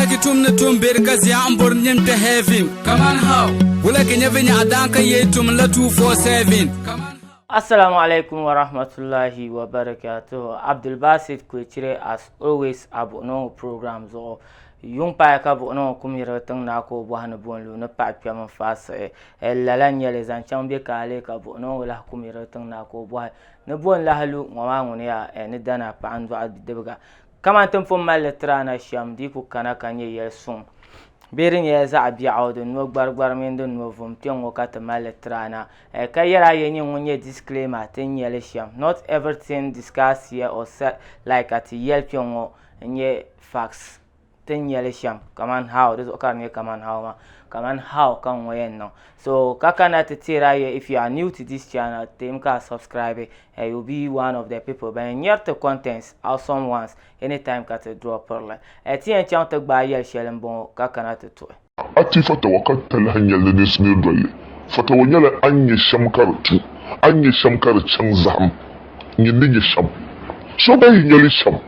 Ki tum ni tum beri ka zia n bori nim kpe heaven. Kaman how? Wula ki nyɛ vinyaɣa daan ka yee tum la 247. Kaman how? Assalamu alaikum wa rahmatullahi wa barakatuhu Abdul Basit Kwecire as always a buɣino ŋɔ program zuɣu yuŋ paaya ka buɣino ŋɔ kum yirigi tiŋ naa ka o bɔhi ni bo n lu ni paɣa kpɛm n faai siɣi eh, lala n nyɛli zaŋ chaŋ bɛ ka alee ka buɣino ŋɔ lahi kum yirigi tiŋ naa ka o bɔhi ni bo n lahi lu ŋɔ maa ŋuni yaa eh, ni dana paɣa n dɔɣi bidibiga Kamani ti ni pun mali li tiri a na shɛm, di yi ku kana ka nyɛ yɛli suŋ bee di nyɛla zaɣ biɛɣu din no gbarigbari mini din no vum kpe ŋ-ŋɔ ka ti mali li tiri a na. Eh, ka yɛl a yɛn nyɛ ŋun nyɛ disclaimer ti ni nyɛ li shɛm. Not everything discussed here or said like ka ti yɛli kpe ŋ-ŋɔ n-nyɛ facts ti ni nyɛ li shɛm, kamani how, di zuɣu ka di nyɛ kamani how maa, kamani how ka ŋ-ŋɔ yɛn niŋ. So, ka kana ti teeri a yɛl if you are new to this channel, teemi ka a subscribe and you be one of the people ban yɛn nyɛri ti contents awesome ones anytime ka ti draw pirili eh, ti yɛn chaŋ ti gbaai yɛli shɛli n bɔŋɔ ka kana ti tuhi. A ti fatawa ka ti lahi nya li ni simiri doli. Fatawa nyɛla a ni nya shɛm ka di tu, a ni nya shɛm ka di chaŋ zahim, nyin ni nya shɛm. So gba yi nya li shɛm.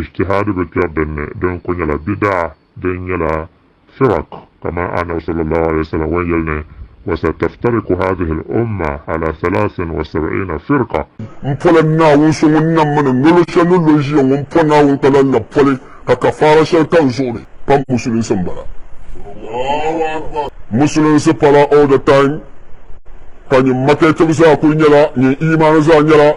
Ijtihaadi bi kpɛri din ni, di ni ku nyɛla bidaa din nyɛla firaq, kamani Annabi sallallahu alayhi wa sallam wan yɛli ni, Wa sa taftariku haadhihi al-umma ala thalaasin wa sab'iina firqa. M pɔla Naawuni so ŋun nam ma ni nolo shɛli ni lo ʒiya ŋɔ, m pɔ Naawuni ka lan labi poli ka kafaara shɛli ka n zuɣu ni pa musulinsi m-bala. Musulinsi pala all the time, ka nyin makɛtib zaa kuli nyɛla nyin iimaani zaa nyɛla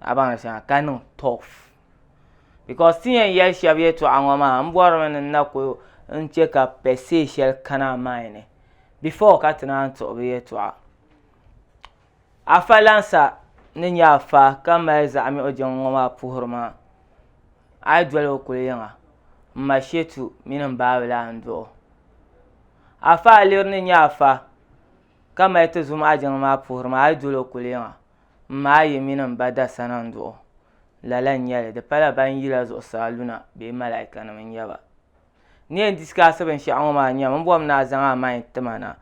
a baŋ di shɛŋa ka niŋ tough because ti yɛn yɛli shɛba yɛltɔɣa ŋɔ maa n bɔrimi ni n na ku n chɛ ka per se shɛli kana a mind ni before ka ti naan tuɣi bi yɛltɔɣa afa Lansa ni nyɛ afa ka mali zaɣa miɣu jiŋ ŋɔ maa puhiri maa a yi doli o kuli yiŋa m ma Shetu mini m baabila a ni duɣi o afa Aliri ni nyɛ afa ka mali ti zum a jiŋ maa puhiri maa a yi doli o kuli yiŋa. M ma a yi mini m ba Dasana n-duɣ o. Lala n-nyɛ li, di pala ban yi la zuɣusaa luna bee malaikanim n-nyɛ ba. N ni yɛn disikaasi binshɛɣu ŋɔ maa nyam, m bɔbimi ni a zaŋ a main ti ma na,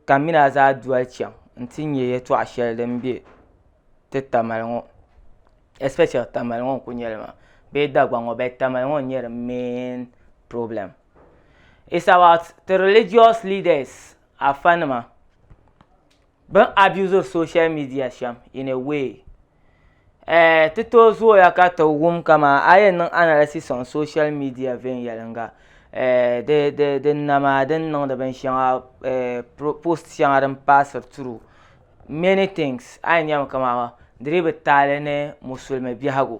ka m mini a zaa doli chaŋ nti nya yɛtɔɣ shɛli din be ti Tamale ŋɔ, especially Tamale ŋɔ n-kul nyɛ li maa bee Dagbaŋ ŋɔ but Tamale ŋɔ n-nyɛ di main problem. It's about ti religious leaders, Afa nima. Bɛ abusiri social media shɛm in a way eh, ti tooi zooya ka ti wum kaman a yɛn niŋ analysis on social media viɛnyɛliŋga eh, di, di, di nama din niŋdi binshɛŋa eh, post shɛŋa din paasiri through many things a yɛn nyami kaman di dii bi taali ni musulimi biɛhigu.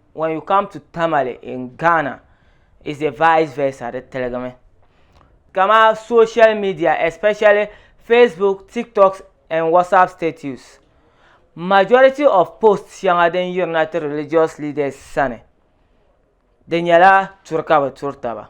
when you come to tamale in ghana is a vice versa di tiligimi kama social media especially facebook tiktoks and whatsapp status majority of post shɛŋa din yirina ti religious leaders sani di nyɛla turi ka bi turi taba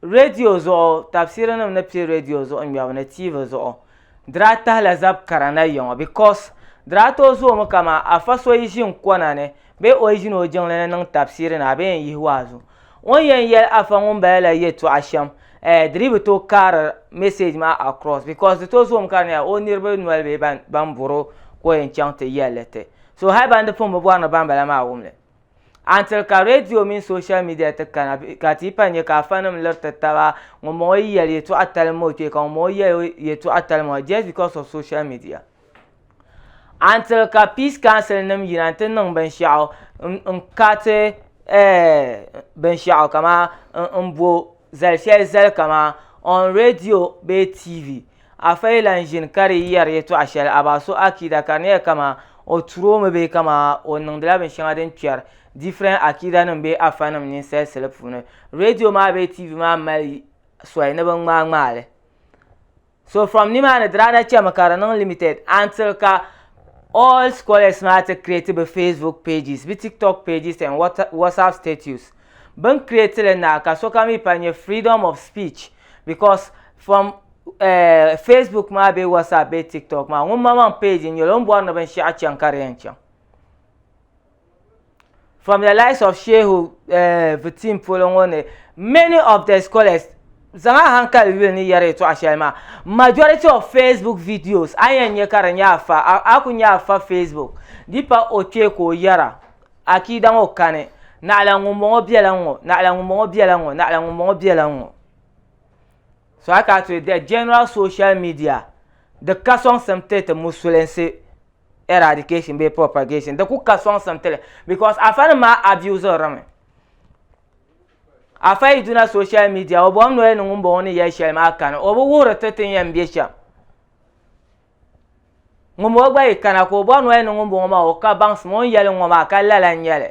Redio zuɣu, Tafsiirinim ni piɛ redio zuɣu ŋmɛbu ni TV zuɣu, di daa tahila zab kara na yiŋɔ because di daa tooi zoomi kaman afa so yi ʒi n kɔna ni bee o yi ʒini o jiŋli ni niŋ tafsiiri ni a bee n yihi waazu o ni yɛn yɛli afa ŋumbala la yɛtɔɣa shɛm eh di dii bi tooi kaari message maa across because di tooi zoomi ka di nyɛla o niriba noli bee ban bɔri o ka o yɛn chaŋ ti yɛlli ti so hali ban di pun bi bɔri ni bambala maa wumli Antiri ka redio mini soshal midia ti kana ka ti pa nya ka afanim liriti taba ŋun bɔŋɔ yi yɛli yɛtɔɣa tali m o kpee ka ŋun bɔŋɔ yɛli yɛtɔɣa tali m just because of social media. Antiri ka peace council nim yina nti niŋ binshɛɣu n kati eh, binshɛɣu kaman m bo Zali shɛli zali kaman on radio bee TV. Afa yi lan ʒini ka di yɛri yɛtɔɣ shɛli a ba so akiida ka di nyɛla kaman o turi o mi bee kaman o niŋdila binshɛŋa din kpɛri different akiidanim bee afanim ninsal sili puuni, radio maa bee TV maa mali soli ni bɛ ŋmaai ŋmaai li. So from nimaani di daa na chemi ka di niŋ limited until ka all scholars maa ti create bɛ Facebook pages, bɛ TikTok pages and WhatsApp status. Bini create li na ka sokam yi pa nyɛ freedom of speech because from eh Facebook maa bee WhatsApp bee TikTok maa ŋun maŋmaŋ page n nyeli o ni bɔri ni binshɛɣu chaŋ ka di yɛn chaŋ. from the likes of Shehu eh, Vitim polo ŋɔ ni many of the scholars zaŋ a hankali yuli ni yɛri yɛtɔɣa shɛli maa majority of Facebook videos a yɛn nyɛ ka di nyɛ afa a ku nyɛ afa Facebook di pa o kpee ka o yɛra akiida ŋɔ kani naɣila ŋunbɔŋɔ bɛla ŋɔ naɣila ŋunbɔŋɔ bɛla ŋɔ naɣila ŋunbɔŋɔ bɛla ŋɔ so a ka to the general social media di ka sɔŋsim ti ti musulinsi eradication bee propagation di ku ka sɔŋsim tili because afa nim maa abuse ri mi afa yi duna social media o bɔhim noli ni ŋun bɔŋɔ ni yɛli shɛli maa kani o bi wuhiri ti tin yɛn bɛ shɛm ŋun bɔŋɔ gba yi kana ka o bɔhi noli ni ŋun bɔŋɔ maa o ka baŋsim o ni yɛli ŋɔ maa ka lala n nyɛli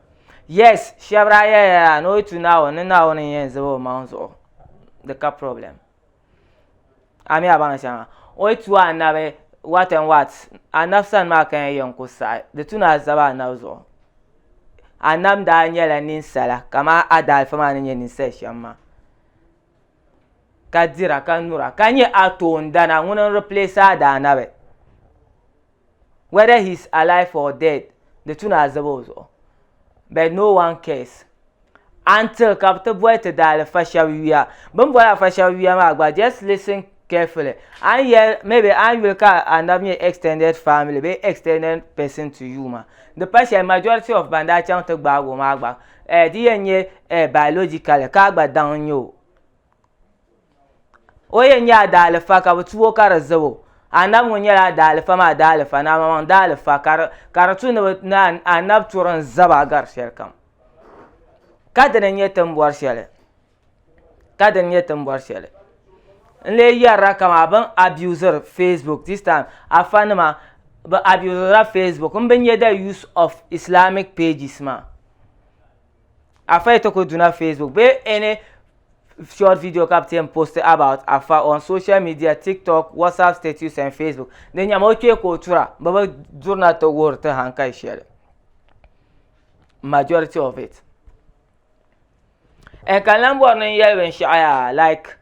yes shɛbira yeah yeah ni o yi tu naawuni ni naawuni n yɛn zab o maŋ zuɣu di ka problem a mi a baŋ shɛŋa o yi tu anabi what and what anabi sani maa ka yɛn yɛn ku saɣi di tu ni a zab anabi zuɣu anabi daa nyɛla ninsala kamani a daalifa maa ni nyɛ ninsal shɛm maa ka dira ka nyura ka nyɛ a toondana ŋuni n replace a daanabi whether he is alive or dead di tu ni azabi o zuɣu but no one cares until ka bi ti boli ti daalifa shɛba yuya bin boli afa shɛba yuya maa gba just listen carefully an yɛli maybe an yuli ka anabi nyɛ extended family bee extended person to you ma di pa shɛli majority of ban daa chaŋ ti gbaagi o maa gba eh, di yɛn nyɛ eh, biologically ka a gba daŋ n nyɛ o O yɛn nyɛ a daalifa ka bi tuo ka di zabo anabi ŋɔ nyɛla a daalifa maa daalifa ni amamaŋ daalifa ka di tu ni anabi turi n zaba gari shɛli kam ka dini n nyɛ ti ni bɔri shɛli ka dini n nyɛ ti ni bɔri shɛli n lee yɛrila kamani bini abusiri facebook this time afa nima bi abusiri la facebook n bi nyɛ the use of islamic pages maa. Afa ito ko duna Facebook be any short video ka bi post about Afa on social media TikTok, WhatsApp status and Facebook. Di nyɛma o kpee ka o tura bi bi durina ti wuhiri ti hankai shɛli. Majority of it. And ka lan bɔri ni n yɛli binshɛɣu yaa like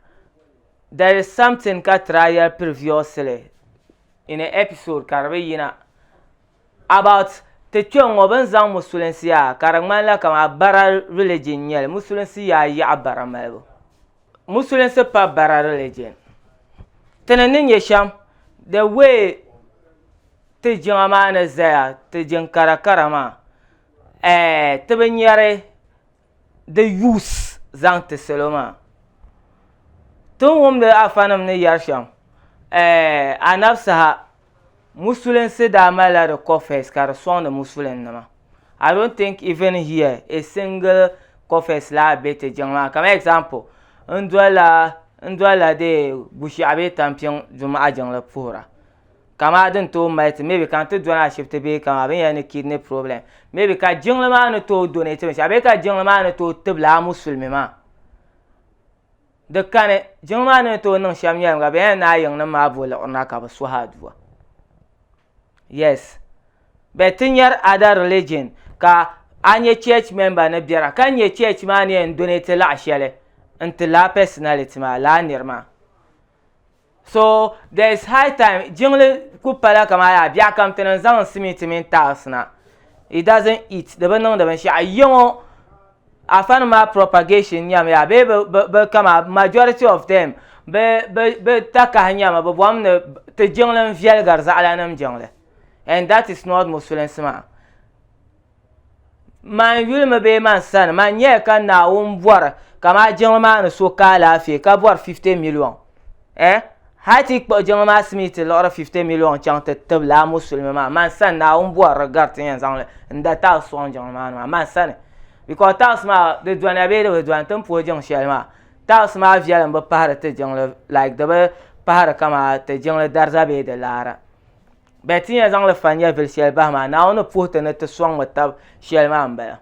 there is something ka tira yɛli previously in an episode ka di bi yina. About Ti kpe ŋɔ bɛ ni zaŋ musulinsi yaa ka di ŋmanila kamani bara religion n-nyɛ li, musulinsi yaa yaɣi bara malibu. Musulinsi pa bara religion. Ti ni ni nya shɛm, the way ti jiŋa maa ni zaya, ti jiŋ kara kara maa, eh, ti bi nyari di yuus zaŋ ti salo maa ti ni wumdi afanim ni yɛri shɛm anabi saha musulinsi daa malila di kɔfɛs ka di sɔŋdi musulin nima I don't think even here a single kɔfɛs laa be ti jiŋ maa kamani example n dolila dee Gushiɛɣu bee Tampiŋ jumaɣu jiŋli puhira kamaa din tooi mali ti maybe ka n ti dɔni ashibiti bee kamaa bini yɛli ni kidney problem maybe ka jiŋli maa ni tooi donate binshɛɣu bee ka jiŋli maa ni tooi tibili a musulimi maa di kani jiŋli maa ni tooi niŋ shɛm nyɛlim ka bini yɛli ni a yiŋ nim maa bo liɣirina ka bi suhi aduwa yes but ti nyɛri other religion ka a nyɛ church member ni biɛra ka nyɛ church maa ni yɛn donate laɣa shɛli n ti laa personality maa laa niri maa So there is high time jiŋli ku pala kamani yaa biɛɣu kam ti niŋ zaŋ simiti mini tiles na it doesn't eat di bi niŋdi binshaɣu yiya ŋɔ afa nim maa propagation nyɛmi yaa bee bi bi bi kama majority of them bi bi bi takahi nyɛmi bi bɔm ni ti jiŋli n viɛligiri zaɣila nim jiŋli and that is not musulinsi maa. Man yulimi bee man sani, man nyɛya ka Naawuni bɔri ka maa jiŋli maa ni so ka alaafee ka bɔri 50 miliɔŋ. Eh? Hal ti yi kpuɣi jiŋli maa simii ti liɣiri 50 miliɔŋ chaŋ ti tib lala Musulimi maa, man sani Naawuni bɔri di gari ti yɛn zaŋ li n-da tiles sɔŋ jiŋli maa ni maa, man sani. Because tiles maa di doniya bee di bi doni ti ni puhi jiŋ shɛli maa, tiles maa viɛlim bi pahiri ti jiŋli like di bi pahiri kaman ti jiŋli dariza bee di laara. Bɛ ti yɛn zaŋ li fa nyɛvili shɛli bahi maa, Naawuni ni puhi ti ni ti sɔŋmi tab shɛli maa m-bala.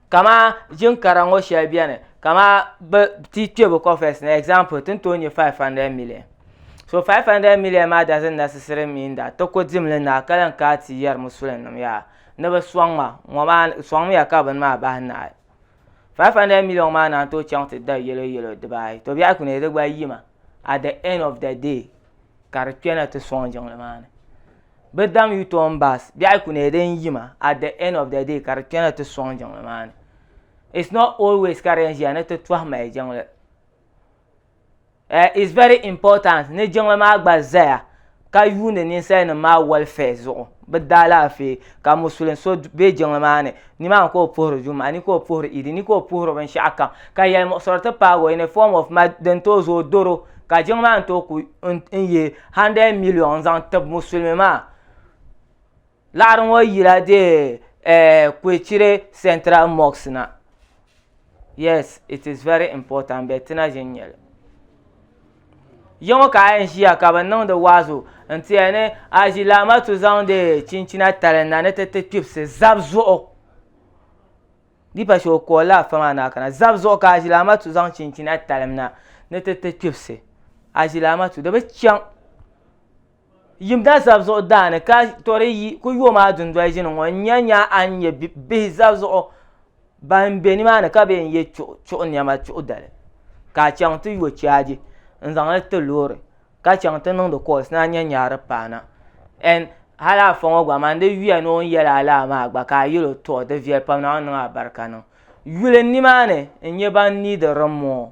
Kamaa ʒin kara ŋɔ shɛli beni, kamaa bɛ ti kpe bɛ kɔfɛs ni, example, ti ni tooi nya 500 million. So 500 million maa doesn't necessarily mean that ti ku dimli naai ka lan kana ti yɛri Musulinnim yaa ni bɛ sɔŋ ma, ŋɔ maa sɔŋmiya ka bini maa bahi naai. 500 million maa naan tooi chaŋ ti da yɛlo yɛlo dibaayi, tɔbiɛhi ku neei di gba yima at the end of the day. ka di kpɛna ti sɔŋ jiŋli maa ni bi dam yu tɔn baas biɛɣu ku nyɛla din yima at the end of the day ka di kpɛna ti sɔŋ jiŋli maa ni it's not always ka di yɛn ʒiya ni ti tɔhi mali jiŋli eh, it's very important ni jiŋli maa gba zaya ka yuuni ninsali nim maa welfare zuɣu bi daa laafee ka musulin so bɛ jiŋli maa ni Nimaani ka o puhiri Juma'a ni ka o puhiri Idi ni ka o puhiri binshɛɣu kam, ka yɛlimuɣisiri ti paagi o in a form of mad din tooi zo o doro ka jiŋ maa ni tooi ku n ye hundred million n zaŋ tib musulimi maa. Laɣiri ŋɔ yila deei Kwechire Central Mosque na. Yes, it is very important but ti na ʒini nyɛli. Yaŋɔ ka a yɛn ʒiya ka bi niŋdi waazu n ti ya ni a ʒi laamatu zaŋdi chinchina tali na ni ti ti kpibisi zab zuɣu di pa shɛli o koolila afa maa ni a kana zab zuɣu ka a ʒi laamatu zaŋ chinchina talim na ni ti ti kpibisi a ʒi laamatu di bi chaŋ yim da zab zuɣu daani ka tori yi ku yo maa dundoli ʒini ŋɔ n nya nya a ni nyɛ bihi zab zuɣu ban be nimaani ka bee n-ye chuɣu nɛma chuɣu dali ka a chaŋ ti yo chaaji n-zaŋ li ti loori ka chaŋ ti niŋdi kɔɔls ni a nya nya a di paana ɛn hal afa ŋɔ gba man di yuya ni o ni yɛli a lala maa gba ka a yɛl o tɔ di viɛli pam Naawuni niŋ a barika niŋ yuli nimaani n-nyɛ ban niidi rimmoo.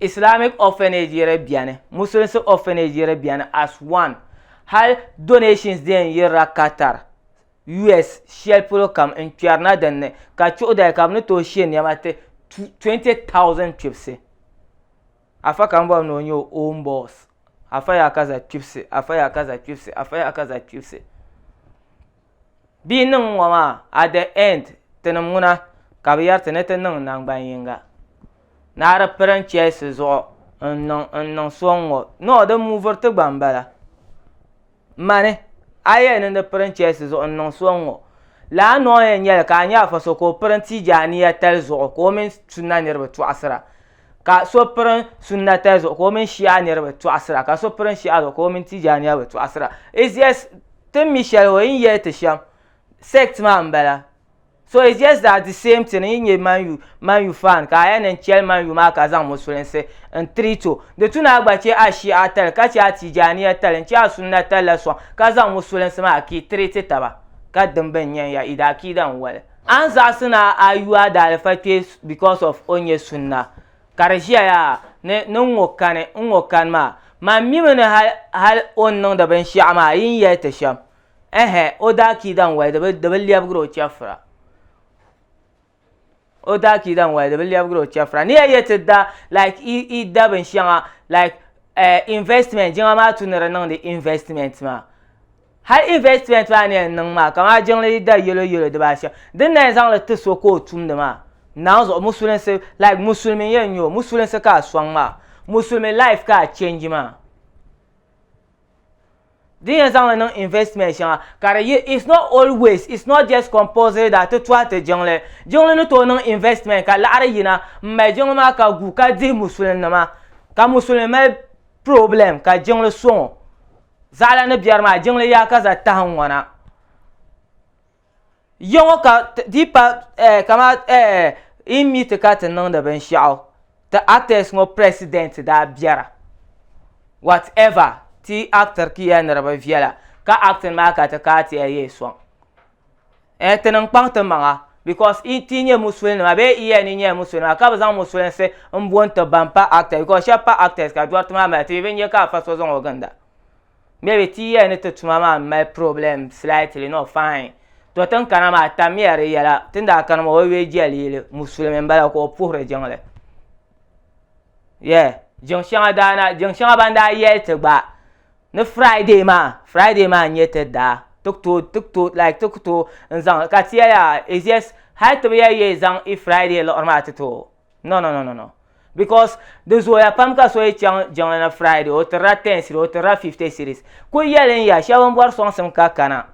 Islamic orphanage yiri bɛni, Musulinsi orphanage yiri bɛni as one. Hali donations dee n-yirila Qatar, US shɛli polo kam n-kpɛrina din ni ka chuɣu dali ka bɛ ni tooi she nɛma ti 20,000 kpibisi. Afa ka m bɔbi ni o nyɛ o own boss. Afa yaa ka za kpibisi, Afa yaa ka za kpibisi, Afa yaa ka za kpibisi. Bia niŋ ŋ ŋɔ maa, at the end, tinim ŋuna ka bɛ yɛri ti ni ti niŋ naŋgban yiŋga. Naa di piri n chɛsi zuɣu n niŋ n niŋ so n ŋɔ. No, di muviri ti gba m-bala. Mani, a yɛli ni di piri n chɛsi zuɣu n niŋ so n ŋɔ. Lala noo yɛn nyɛli ka a nya afa so ka o piri n tiigi aniya tali zuɣu ka o mini Sunna niriba tɔɣisira. Ka so pirin Sunnata zuɣu ka o mini Shia niriba tɔɣisira, ka so pirin Shia zuɣu ka o mini Tijaaniya bi tɔɣisira. It's just tin mi shɛli o yi ni yɛli ti shɛm, sect maa m-bala. So it's just that the same thing, n yi nyɛ Man U, Man U fan ka a yɛn niŋ chɛli Man U maa ka zaŋ Musulinsi n-treat o, di tu ni a gba chɛ a Shia tali, ka chɛ a Tijaaniya tali, n-chɛ a Sunnata la sɔŋ ka zaŋ Musulinsi maa ki treat taba, ka dimb n-nyɛn ya, i di akiida n-wali. A ni zaɣisi ni a yu a daalifa kpe because of o ni nyɛ sunna, ka di ʒiya yaa ni ni n ŋɔ kani n ŋɔ kani maa, man mimi ni hal o ni niŋdi binshɛɣu maa yi ni yɛli ti shɛm, ɛhɛ, o daakiida n-wali di bi di bi lɛbigiri o chɛfura, o daakiida n-wali di bi lɛbigiri o chɛfura, ni ya yɛ ti da like yi yi da binshɛŋa like ɛɛh investment jiŋa maa tu ni di niŋdi investment maa. Hal investment maa ni yɛn niŋ maa, kamani jiŋli yi da yɛlo yɛlo dibaa ashɛm, din na yɛn zaŋli ti so ka o tumdi maa, naawuni zuɣu musulinsi, like musulimi n yɛn nyɛ o, musulinsi ka a sɔŋ maa, musulimi life ka a change maa, din yɛn zaŋli niŋ investment shɛŋa ka di yi, it's not always, it's not just compulsory that ti tɔhi ti jiŋli, jiŋli ni tooi niŋ investment ka laɣiri yina m mali jiŋli maa ka gu ka dihi musulinima, ka musulimi mali problem ka jiŋli sɔŋ o. Zaɣila ni biɛri maa jiŋli yaa ka za tahi ŋ-ŋɔna. Ya ŋɔ ka di pa eh kama eh yi mi ti ka ti niŋdi binshɛɣu ti actors ŋɔ president daa biɛra. What ever ti yi actr ki ya niriba viɛla ka acting maa ka ti ka ti ya yee sɔŋ. Eh ti niŋ kpaŋ ti maŋa because i ti nyɛ musuli nima bee i yɛni nyɛla musuli nima ka bi zaŋ musulinsi n bo n ti ban pa actors because shɛba pa actors ka dɔriti maa mali ti mi bi nyɛ ka afa so zaŋ o ginda maybe ti yɛni ti tuma maa mali problem slightly not fine to tin kana maa tammiya di yɛla tin daa kani maa o yuli jɛli yili musulimi n bala ka o puhiri jiŋli yeah jiŋ shɛŋa daa na jiŋ shɛŋa ban daa yɛli ti gba ni friday maa friday maa n-nyɛ ti daa ti ku tooi ti ku tooi like ti ku tooi n-zaŋ li ka ti yɛli a it's just hali ti bi yɛli yi zaŋ i friday liɣiri maa ti tooi no no no no no because di zooya pam ka so yi chaŋ jiŋli ni friday o tirila ten cedi o tirila fifty cedis kuli yɛli n-ya shɛba m-bɔri sɔŋsim ka kana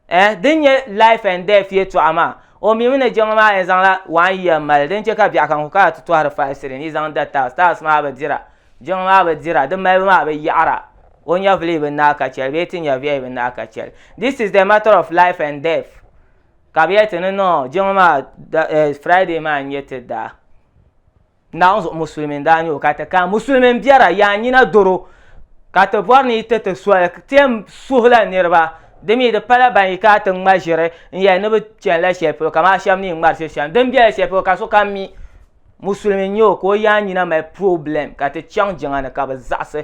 eh din nyɛ life and death yɛtɔɣa maa o mi mi ni jiŋli maa yɛn zaŋla one year mali din chɛ ka biɛɣu kan ku kana ti tɔhiri five shilling yi zaŋ da tiles tiles maa bi dira jiŋli maa bi dira di malibu maa bi yaɣira o nyɛvuli bi naai ka chɛli bee ti nyɛviya bi naai ka chɛli this is the matter of life and death ka bi yɛli ti ni no jiŋli maa da eh Friday maa n-nyɛ ti daa Naawuni zuɣu musulimi n daa nyɛ o ka ti kana musulimi n biɛra yaa nyina doro ka ti bɔri ni yi ti ti soli tɛm suhila niriba di mi di pala ban yi kana ti ŋma ʒiri n yɛli ni bi chani la shɛli polo kaman shɛba ni yi ŋmari ʒiri shɛm din bɛla shɛli polo ka sokam mi musulimi n nyɛ o ka o yaa nyina mali purobilɛm ka ti chaŋ jiŋa ni ka bi zaɣisi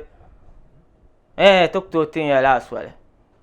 ɛɛh ti ku tooi ti nya lala soli.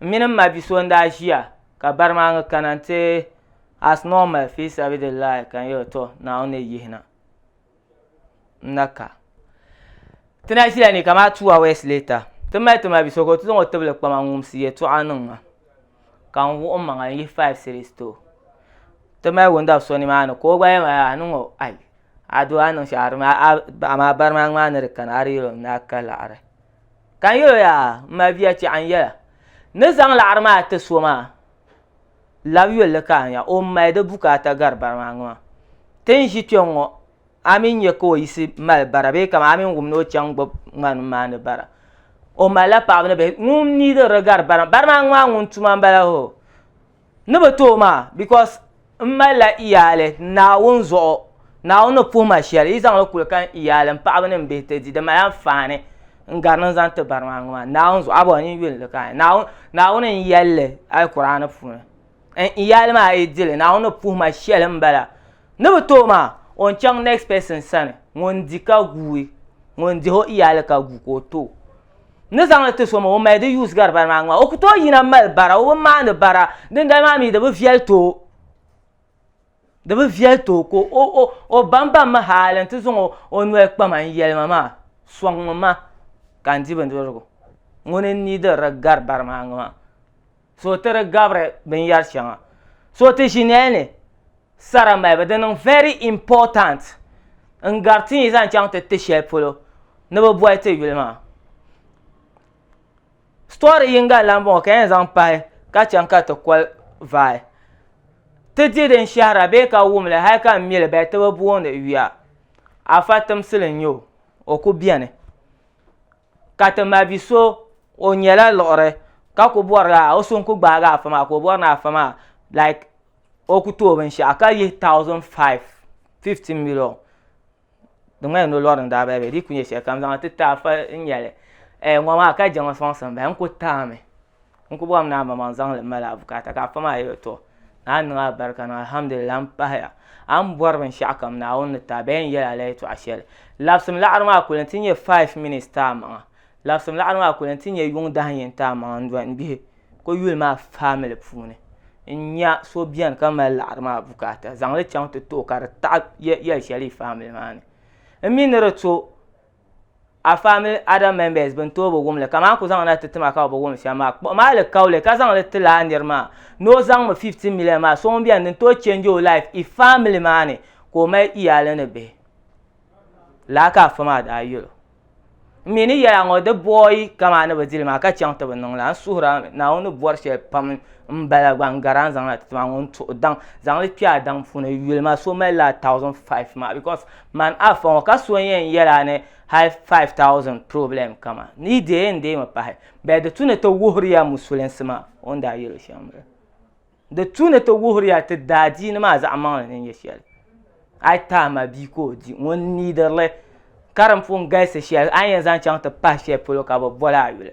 M mini m ma bi so n-daa ʒiya ka bari maa ŋ-ŋ kana nti as normal fi sabidillahi ka n yɛli o tɔ Naawuni ni yihi na n na ka. Ti na ʒila ni kamaa two hours later ti mali ti ma bi so ka o ti zaŋ o tibili kpa ma n-ŋumsi yɛltɔɣa niŋ ma ka n wuɣi m maŋa n-yihi five cedis ti o. Ti mali wundabi so nimaani ka o gba yɛlima yaa niŋ o ai a doo a ni niŋ shɛli a di mi a a amaa bari maa ŋ-maa ni di kana a di yɛl o ni daa ka laɣiri. Ka n yɛl o yaa m ma bia tɛɣu n yɛla ni zaŋ laɣiri maa ti so maa lab yol li ka a nya o m-mali di bukaata gari bara maa ŋɔ maa. Ti ni ʒi kpiɔŋ ŋɔ a mi nya ka o yiɣisi mali bara bee kaman a mi ni wum ni o chaŋ gbubi ŋmani m-maani bara. O malila paɣiba ni bihi. Ŋun mi di di gari bara maa, bara maa ŋɔ maa ŋun tuma m-bala hoo. Ni bi tooi maa because n malila iyaali Naawuni zuɣu Naawuni ni puhi ma shɛli yi zaŋli kuli ka n iyaali n paɣaba ni n bihi ti di di mali anfaani n gari ni n zaŋ ti barimaa ŋɔ maa Naawuni zuɣu abɔɔ n yi yuli li ka Naawuni n yɛlli Alkuraani puuni n iyaali maa yi dili Naawuni ni puhi ma shɛli n bala ni bi tooi maa o n chaŋ next person sani ŋun di ka guui ŋun dihi o iyaali ka gu ka o too ni zaŋli ti so ma o mali di use gari bari maa ŋma o ku tooi yina mali bara o bi maani bara dindali maa mi di bi viɛli ti o di bi viɛli ti o ka o o o bambam mi haali n ti zaŋ o o noli kpa ma n yɛli ma maa sɔŋmi ma ka n di bindirigu ŋuni n niidiri di gari bari maa ŋma so ti di gabiri binyɛri shɛŋa so ti ʒi nɛli ni sara malibu di niŋ very important n gari ti yi zaŋ chaŋ ti ti shɛli polo ni bi boli ti yuli maa story yinga lan bɔŋɔ ka yɛn zaŋ pahi ka chaŋ ka ti koli vai ti di din shɛhira bee ka wumli hali ka n mili bali ti bi boondi yuya afa timsili n nyɛ o o ku bɛni ka ti ma bi so o nyɛla liɣiri ka ku bɔri la o so n ku gbaagi afa maa ka o bɔri ni afa maa like o ku tooi binshaɣu ka yihi thousand five fifty million di ŋmanila ni o lɔri ni daa baliba di ku nyɛ shɛlikam zaŋ ti ti afa n nyɛli ŋɔ maa ka je ŋɔ sɔŋsim bahi n ku taami. n ku bɔhim ni a mamaŋ zaŋli mali a bukaata ka a fami a yɛli tɔ ni a niŋ a barika ni alhamdulillah m pahaya a ni bɔri binshɛɣu kam Naawuni ni taai bee n yɛli a la yɛtɔɣ shɛli labsim laɣiri maa kuli nti nyɛ five minutes ti a maŋa labsim laɣiri maa kuli nti nyɛ yuŋ dahin yini ti a maŋa n doli n bihi n ko yuli maa family puuni n nya so beni ka mali laɣiri maa bukaata zaŋli chaŋ ti ti o ka di taɣi yɛl shɛli yi family maa ni m mi ni di to a family other members bɛn tooi bi wum li kaman a ku zaŋ na ti ti ma ka o bi wum shɛm maa, kpuɣi ma alikauli ka zaŋ li ti lala nir maa ni o zaŋmi fifty million maa sɔŋ bɛn din tooi change o life i family maa ni ka o mali iyaali ni bihi. Lala ka afa maa daa yɛl o. N mi ni yɛl a ŋɔ di boi kaman ni bi di li maa ka chaŋ ti bi niŋ la. N suhir a Naawuni ni bɔri shɛli pam m-bala gba n gari a ni zaŋ na ti ti ma ŋɔ n-tuhi daŋ zaŋ li kpe a daŋ puuni yuli ma so mali lala thousand five maa because Man Afa ŋɔ ka so yɛn yɛla a ni hali 5,000 problem kama ni yi deei n deemi pahi bɛɛ di tu ni ti wuhiriya musulinsi maa o ni daa yɛli shɛm m-bala. Di tu ni ti wuhiriya ti daadiini maa zaɣimaŋli ni nyɛ shɛli. A yi tahi ma bia ka o di ŋun needi li ka din pun galisi shɛli a ni yɛn zaŋ chaŋ ti pahi shɛli polo ka bɛ boli a yuli.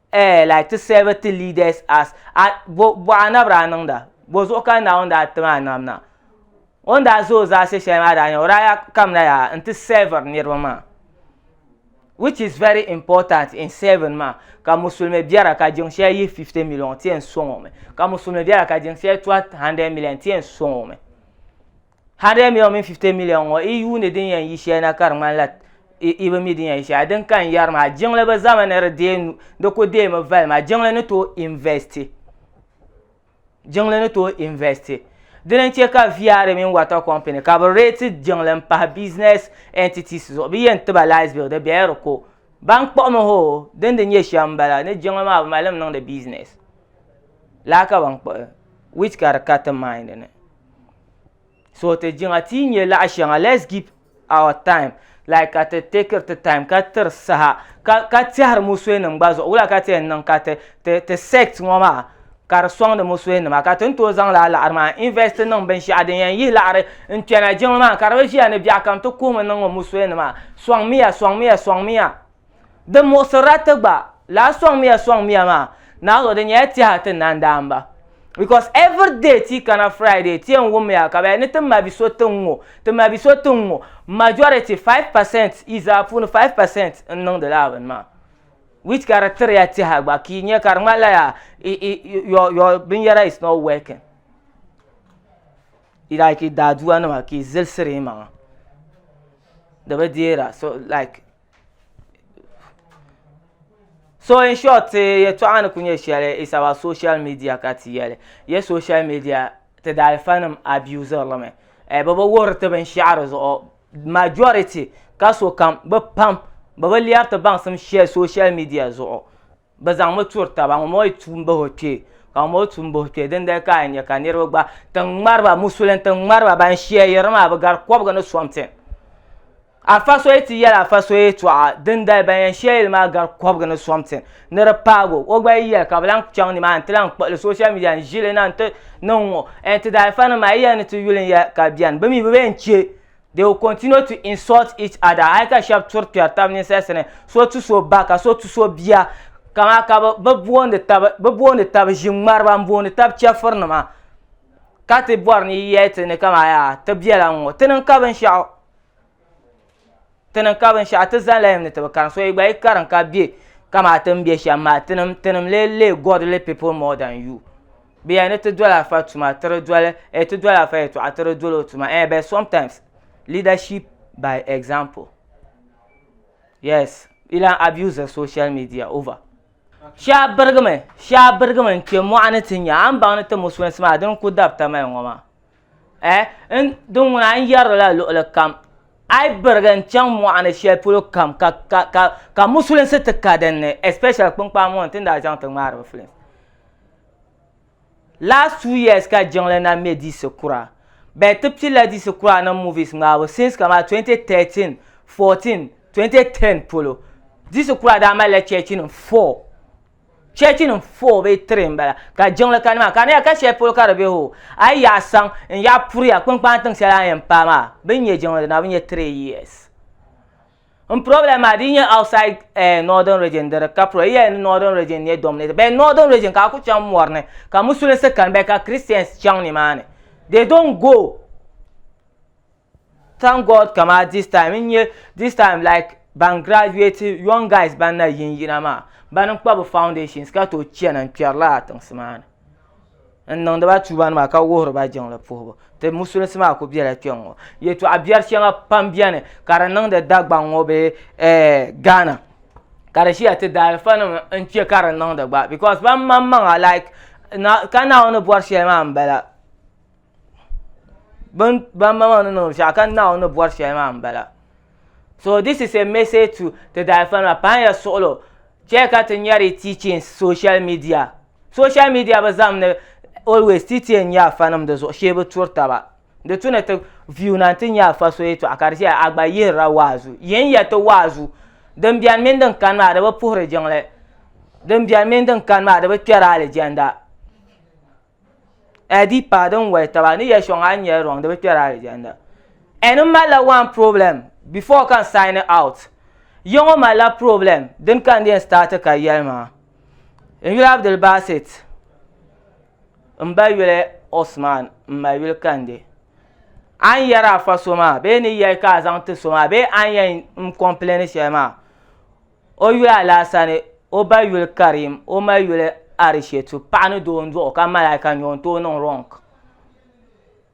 eh, like to serve to lead us as a bo bɔɣa na bi daa niŋda bo zuɣu ka Naawuni daa ti maa nam na o ni daa za o zaasi shɛli maa daa nyɛ o daa ya kamina ya n ti servir niriba maa which is very important in serving maa ka musulmi biɛra ka jiŋ shɛli yihi 50 million ti yɛn sɔŋ o mi ka musulmi biɛra ka jiŋ shɛli tuhi 100 million ti yɛn sɔŋ o mi 100 million mini 50 million ŋɔ i yuuni din yɛn yi shɛli na ka di ŋmanila i bi mi din yɛn yi shɛli din ka n yɛri maa jiŋli bi zami ni di deei nu di ku deemi vali maa jiŋli ni tooi investi jiŋli ni tooi investi di ni chɛ ka viari mini water company ka bi reeti jiŋli n pahi business entities zuɣu bi yɛn tiba light bill di bɛla di ko ban kpuɣimi hoo din di nyɛ shɛm n bala ni jiŋli maa bi malimi niŋdi business laa ka ban kpuɣi which ka di ka ti mind ni so ti jiŋa ti nyɛ laɣa shɛŋa let's give our time like ka ti take ti time ka tiri saha ka ka tɛhiri musuhi nim gba zuɣu wula ka ti yɛn niŋ ka ti ti ti sect ŋɔ maa ka di sɔŋdi musuhi nima ka ti ni tooi zaŋ laa laɣiri maa invest niŋ binshaɣu din yɛn yihi laɣiri n kpɛna jiŋli maa ka di bi ʒiya ni biɛɣu kam ti kuhimi niŋ ŋɔ musuhi nima sɔŋmiya sɔŋmiya sɔŋmiya Di muɣisirila ti gba lahi sɔŋmiya sɔŋmiya maa naanzuɣu di nyɛla tɛha ti na n-daa m-ba because every day ti yi kana Friday ti yɛn wummiya ka bɛ yɛli ni ti ma bi so ti ŋ-ŋɔ ti ma bi so ti ŋ-ŋɔ majority five percent yi zaa puuni five percent n-niŋdi lala bini maa which ka di tiriya tɛha gba ka yi nya ka di ŋmanila yaa your your binyɛra is not working like daadua nima ka yi zilisiri yi maŋa di bi deera so like. so in short ti yɛtɔɣa ni ku nyɛ shɛli is our social media ka ti yɛli yɛ social media ti daalifa nim abusiri li mi eh, bi bi wuhiri ti binshaɣu di zuɣu majority ka sokam bi pam bi bi lɛri ti baŋsim shɛli social media zuɣu bɛ zaŋmi turi taba ŋun bɔŋɔ yi tuui m-bahi o kpee ka ŋun bɔŋɔ tuui m-bahi o kpee dindali ka a nya ka niriba gba tiŋ ŋmari ba musulin tiŋ ŋmari ba ban shia yiri maa bɛ gari kɔbiga ni something afa so yi ti yɛli afa so yɛltɔɣa dindali ban yɛn shia yili maa gari kɔbiga ni something ni di paagi o o gba yi yɛli ka bɛ lahi chaŋ nimaani n-ti lahi kpuɣili social media n-ʒili na n-ti niŋ ŋɔ ti daalifa nima maa yi yɛli ni ti yuli n-yɛli ka beni bɛ mi bɛ be yɛn che they will continue to insult each other hali ka shɛba turi kpɛri taba ninsali sani so tu so ba ka so tu so bia kama ka bi boondi taba bi boondi taba ŋmariba n boondi taba chɛfuri nima ka ti bɔri ni yi yɛli ti ni kama yaa ti bɛla n ŋɔ ti niŋ ka binshaɣu ti niŋ ka binshaɣu ti zani la yim ni ti bi karim so yi gba yi karim ka bɛ kama ti ni bɛ shɛm maa tinim tinim lee lee godly people more than you. bɛ ya ni ti doli afa tuma tiri doli eh ti doli afa yɛtɔɣa tiri doli o tuma eh but sometimes leadership by example yes ilan abuse social media over shɛba birigimi shɛba birigimi n kpɛ mɔɣuni ti nya a ni baŋ ni ti musulinsi maa din ku dabita mali ŋɔ maa eh n din ŋuna n yɛrila luɣuli kam a yi birigi n chaŋ mɔɣuni shɛli polo kam ka ka ka ka musulinsi ti ka dinni especially kpinkpaa ŋɔ n tin daa chaŋ ti ŋmaari bi films last two years ka jiŋli na mɛ diisi kura bɛn ti pilila diisi kura ni movies ŋmaabu since kamani 2013 14 2010 polo diisi kura daa malila chɛchinim four chɛchinim four bee three n bala ka jiŋli kani maa ka niya ka shɛli polo ka di be hoo a yi yaɣa saŋ n yaɣa puriya kpinkpani tiŋ shɛli a ni yɛn paai maa bini nyɛ jiŋli na bi nyɛ three years N problem maa di nyɛ outside eh, northern region di di ka pro yi yɛli ni northern region nyɛ dominated bɛ northern region ka a ku chaŋ mɔri ni ka musulinsi kani bɛ ka Christians chaŋ ni maa ni they don't go thank God kama this time n nyɛ this time like ban graduate young guys ban na yin yina maa ban n kpa bi foundations ka tooi chana n kpɛri lala tiŋsi maa ni n niŋdi ba tuuba nima ka wuhiri ba jiŋli puhibu ti musulinsi maa ku biɛla kpɛŋŋo yɛltɔɣa biɛri shɛŋa pam biɛni ka di niŋdi dagbaŋ ŋo bee gaana ka di ʒiya ti daalifa nim n chɛ ka di niŋdi gba bikos ban maŋmaŋa laik ka naawuni bɔri shɛli maa n bala bin bamma maa ni niŋ shɛli ka naawuni ni bɔri shɛli maa n bala so this is a message to ti daayɛfa nima pahi ya suɣulo chɛ ka ti nyari teachings social media social media bi zahim ni always ti ti yɛn nya afa nim di zuɣu shee bi turi taba di tu ni ti view na n ti nya afa so yɛtɔɣa ka di ʒɛya a gba yihirila waazu yin ya ti waazu din bɛni mini din kani maa di bi puhiri jiŋli din bɛni mini din kani maa di bi kpɛri alijanda Ɛdi paɣa din wali taba ni yɛ shɔŋ a ni yɛn rɔŋ di bi kpɛri alijanna. N ni malila one problem before ka n sign out. Ya ŋɔ malila problem dini ka n di yɛn start ka yɛli maa. N yuli Abdulbasit, m ba yuli Osman m ma yuli Kande. A ni yɛri afa so maa bee ni yɛli ka a zaŋ ti so maa bee a ni yɛn n complaini shɛli maa, O yuli alaasa ni o ba yuli Karim o ma yuli Arishetu paɣa ni doo n-duɣi o ka malaika nya o n-tooi niŋ wrong.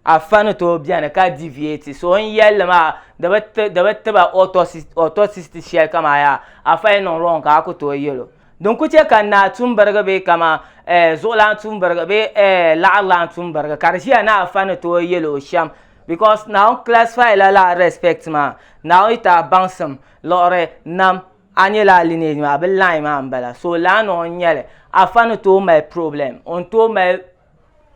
Afa ni tooi beni ka deviate so o n-yelli maa di bi ti di bi tiba autopsy sheli ka maa yaa afa yi niŋ wrong ka a ku tooi yel o. Din ku che ka naa tumbirigi bee kaman eh zuɣulan tumbirigi bee eh laɣirilan tumbirigi ka di ʒiya ni afa ni tooi yel o shem because Naawuni classify la lala respect maa Naawuni yi ti a baŋsim Liɣiri nam, a nya la a lineage maa bɛ line maa m bala so lana o n nyɛli, afa ni tooi mali problem o ni tooi mali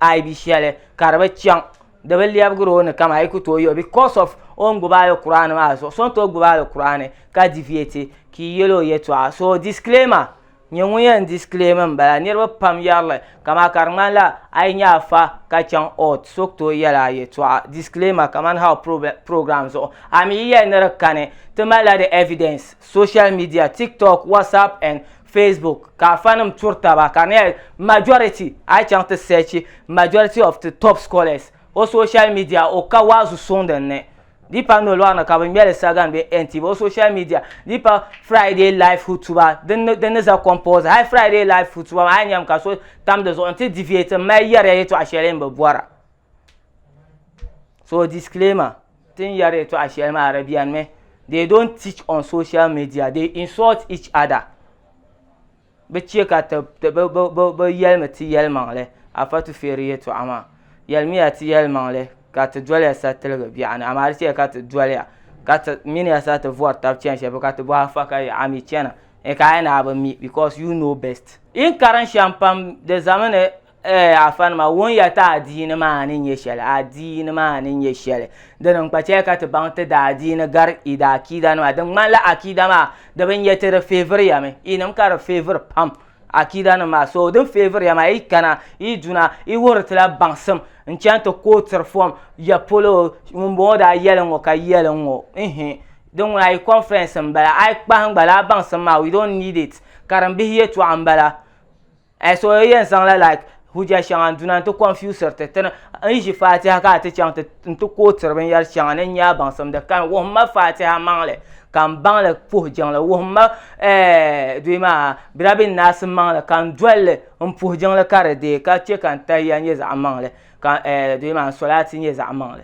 aibi shɛli ka di bi chaŋ di bi lɛbigiri o ni kam a yi ku tooi yɛli o because of o ni gbubi Alkur'aani maa zuɣu so ni tooi gbubi Alkur'aani ka deviate ka i yɛli o yɛltɔɣa so disclaimer Nyɛ ŋun yɛn disclaim n bala niriba pam yɛrili kamaa ka di ŋmanila a yi nyɛ afa ka chaŋ ɔɔt so tooi yɛli a yɛtɔɣa disclaimer kamani how program zuɣu a mi yi yɛli ni di kani ti malila di evidence social media tiktok whatsapp and facebook ka afanim turi taba ka di nyɛla majority a yi chaŋ ti search majority of ti top scholars o social media o ka waazu suŋ din ni Di pa nolɔɣu ni ka bɛ ŋmɛli Sagan be NTV o social media di pa Friday Live Hutuba din ni din ni za compulsory hali Friday Live Hutuba maa a yi nyami ka so tam di zuɣu nti deviate m mali yɛri ya yɛtɔɣa shɛli n bi bɔra so disclaimer ti ni yɛri yɛtɔɣa shɛli maa Arabian mi they don't teach on social media they insult each other. bi chɛ ka bi yɛlimi ti yɛlimaŋli afa tufeeri yɛltɔɣa maa yɛlimiya ti yɛlimaŋli ka ti doliya sa tiligi biɛɣu ni amaa di chɛli ka ti doliya ka ti miniya sa ti vori tabi chɛni shɛli polo ka ti bɔhi afa ka yaha a mii chɛna n kaai ni a bi mi bikos yu noo bɛst. Yi ni karim shɛm pam di ʒɛmi ni Ee afanima, wuhiya ti adiini maa ni nyɛ shɛli, adiini maa ni nyɛ shɛli. Di ni n-kpa chɛli ka ti baŋ ti daadiini gari i daakiidanima. Di ŋmanila akiida maa di bi nyɛ ti di favouriyami, inim ka di favour pam akiidanim maa. So din favour ya maa yi kana yi duna yi wuhiri ti la baŋsim n-chaŋ ti kootiri fom ya polo ŋumbɔŋɔ daa yɛli ŋ-ŋɔ ka yɛli ŋ-ŋɔ ihi din ŋuna yi conference m-bala. A yi kpahi n-gba lala baŋsim maa we don't need it, karimbihi yɛltɔɣa m-bala. Ai suɣuyi yɛn zaŋla like hujja shɛŋa n-duna nti kɔnfiusiri ti ti ni n ʒi Faatiha ka a ti chaŋ ti nti kootiri binyɛr shɛŋa ni n nya a baŋsimdi kani. Wuhim ma Faatiha maŋli ka m baŋ li puhi jiŋli. Wuhim ma, ɛɛh, duyi maa, Birabinnaasi maŋli ka n doli li m puhi jiŋli ka di deei ka chɛ ka n tahiya nyɛ zaɣ maŋli ka, ɛɛh, duyi maa, n solaati nyɛ zaɣ maŋli.